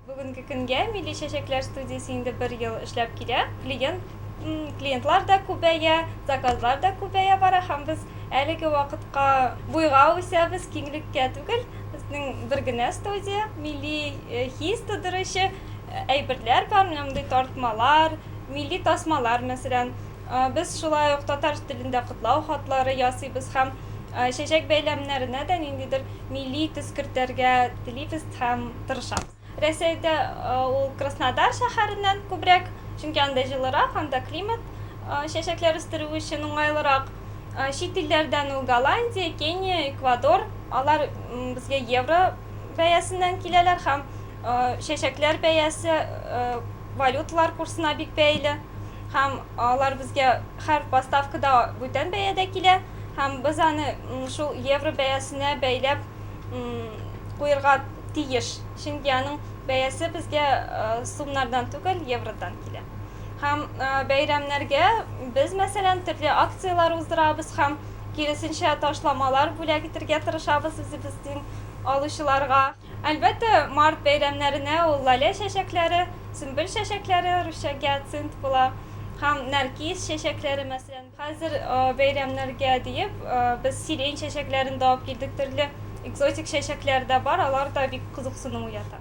Бүгенге көнгә Милли чәчәкләр студиясе инде бер ел эшләп килә. Клиент, клиентлар да күбәя, заказлар да күбәя бара һәм без әлеге вакытка буйга үсәбез, киңлеккә түгел. Безнең бер генә студия, милли хис тудыручы әйберләр бар, менә мондый тартмалар, милли тасмалар, мәсәлән. Без шулай ук татар телендә котлау хатлары ясыйбыз һәм чәчәк бәйләмнәренә дә ниндидер милли төс кертәргә телибез һәм. тырышам. Рәсәйдә ул Краснодар шәһәреннән күбрәк, чөнки анда җылырак, анда климат чәчәкләр үстерү өчен уңайлырак. Чит илләрдән ул Голландия, Кения, Эквадор, алар безгә евро бәясеннән киләләр һәм чәчәкләр бәясе валюталар курсына бик бәйле һәм алар безгә һәр поставкада бүтән бәядә килә һәм без аны шул евро бәясенә бәйләп куерга тиеш. Чөнки аның бәясе безгә сумнардан түгел, евродан килә. Һәм бәйрәмнәргә без, мәсәлән, төрле акцияләр уздырабыз һәм киресенчә ташламалар бүләк итергә тырышабыз үзебезнең алучыларга. Әлбәттә, март бәйрәмнәренә ул лалә чәчәкләре, сөмбел чәчәкләре, русча гиацинт, була һәм нәркис чәчәкләре, мәсәлән. Хәзер бәйрәмнәргә диеп без сирень чәчәкләрен дә алып килдек, төрле экзотик чәчәкләр дә бар, алар да бик кызыксыну уята.